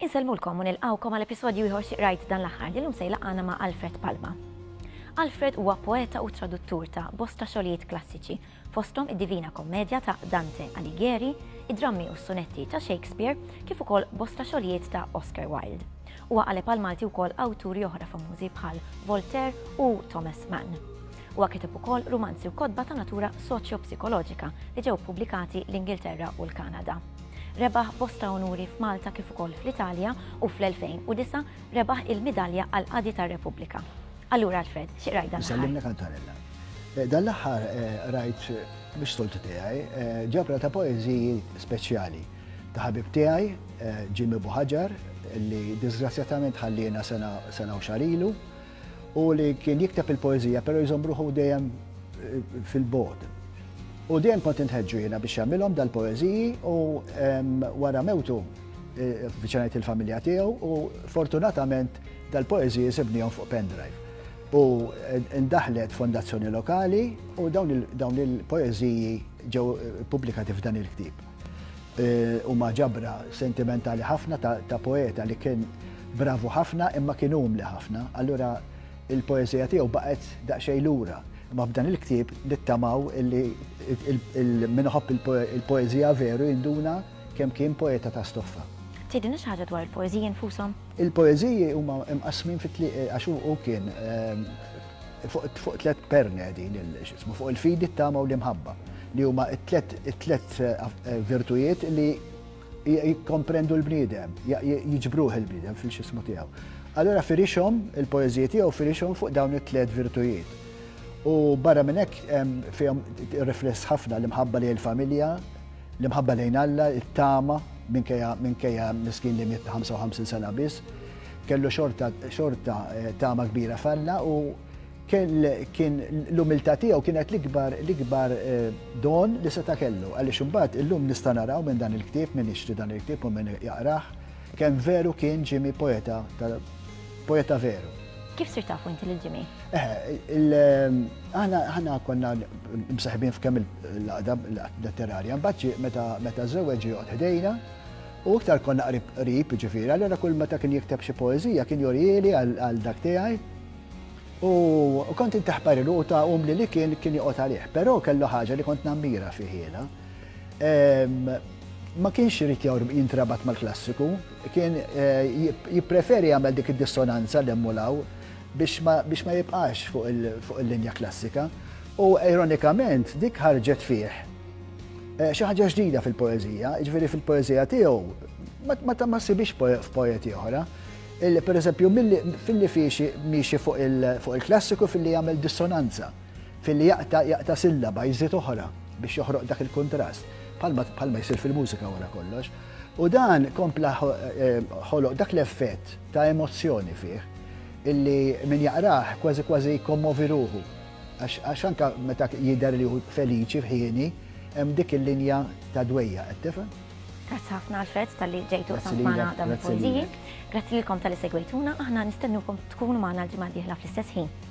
Insellmulkom u nilqawkom għal episodju ieħor xi qrajt dan l-aħħar li llum se jlaqgħana ma' Alfred Palma. Alfred huwa poeta u traduttur ta' bosta xogħlijiet klassiċi fosthom id-Divina Kommedja ta' Dante Alighieri, id-drammi u s-sunetti ta' Shakespeare, kif ukoll bosta xogħlijiet ta' Oscar Wilde. Huwa qaleb għall-Malti wkoll awturi oħra famużi bħal Voltaire u Thomas Mann. Huwa kiteb ukoll rumanzi u kotba ta' natura soċjo-psikoloġika li ġew ppubblikati l-Ingilterra u l-Kanada. Rebaħ bosta unuri f'Malta kif ukoll fl-Italja u fl-2009 rebaħ il-Midalja għall-Qadi tar-Repubblika. Allura Alfred, xi qrajt dan? Sallimna kantarella. Eh, dan l-aħħar eh, rajt biex toltu tiegħi eh, ġabra ta' poeżiji speċjali ta' ħabib tiegħi Ġimmi Buħaġar li disgrazzjatament ħallina sena u xarilu u li kien jikteb il-poeżija però jżombruħu dejjem fil-bod. U dejjem kont intħeġġu jiena biex jagħmilhom dal-poeżiji u wara mewtu viċinajt il-familja tiegħu u fortunatament dal-poeżiji sibnihom fuq pendrive. U ndaħlet fondazzjoni lokali u dawn il-poeżiji ġew pubblikati f'dan il-ktib. E, u ma ġabra sentimentali ħafna ta' poeta li kien bravu ħafna imma kien umli ħafna, allura il-poeżija tiegħu baqgħet daqsxejn lura. Ma b'dan il-ktib nittamaw illi il-minħobb il-poeżija veru jinduna Kemm kien poeta ta' stoffa. Tgħidilna xi ħaġa dwar il-poeżiji nfushom? Il-poeżiji huma mqassmin fi tliet għax hu kien fuq tliet perni qegħdin x'ismu fuq il-fidi, t-tama u l-imħabba li huma t-tliet virtujiet li jikkomprendu l-bniedem, jiġbruh il-bniedem fil-x'ismu tiegħu. Allura firixhom il-poeżiji tiegħu firixhom fuq dawn it-tliet virtujiet. U barra minn hekk fihom rifless ħafna l-imħabba lejn il-familja, L-imħabba lejn Alla, it-tama, minkejja minkejja miskin li miet ta' 55 sena biss, kellu xorta xorta eh, tama kbira f'Alla u kien l-umiltà tiegħu kienet l-ikbar l-ikbar eh, don li seta' kellu. Għaliex imbagħad illum nista' naraw minn dan il-ktieb, minn ixtri dan il-ktieb u minn jaqrah, kemm veru kien ġimi poeta poeta veru. Kif sir tafu inti lil Jimmy? Aħna konna msaħbin f'kemm il-laqda letterarja, mbaċċi meta żewġ joqgħod ħdejna, u iktar konna qrib ġifieri, allora kull meta kien jikteb xi poeżija kien jorieli għal dak tiegħi. U kont intaħpar il ta' um li li kien kien joqgħod għalih, però kellu ħaġa li kont nammira fiħiela. Ma kienx irid jintrabat mal-klassiku, Kien jippreferi jagħmel dik id-dissonanza 'l hemm u 'l hawn biex ma jibqax fuq il-linja klassika. U ironikament dik ħarġet fih xi ħaġa ġdida fil-poeżija, jiġifieri fil-poeżija tiegħu ma ssibhiex f'poeti oħra. Pereżempju, filli miexi fuq il-klassiku filli jagħmel dissonanza. Filli jaqta' jaqta' sillaba jżid oħra biex joħroq dak il-kuntrast, bħalma jsir fil-mużika wara kollox. U dan kompla ħoloq dak l-effett ta' emozzjoni fih illi min jaqrah kważi kważi jkommovi ruħu. Għax anka meta jidher li hu feliċi f'ħieni, hemm dik il-linja ta' dwejja, qed tifhem? Grazzi ħafna Alfred tal-li ġejtu samt magħna dawn il-poeżiji. Grazzi lilkom tal-li segwejtuna, aħna nistennukom tkunu magħna l-ġimgħa d-dieħla fl-istess ħin.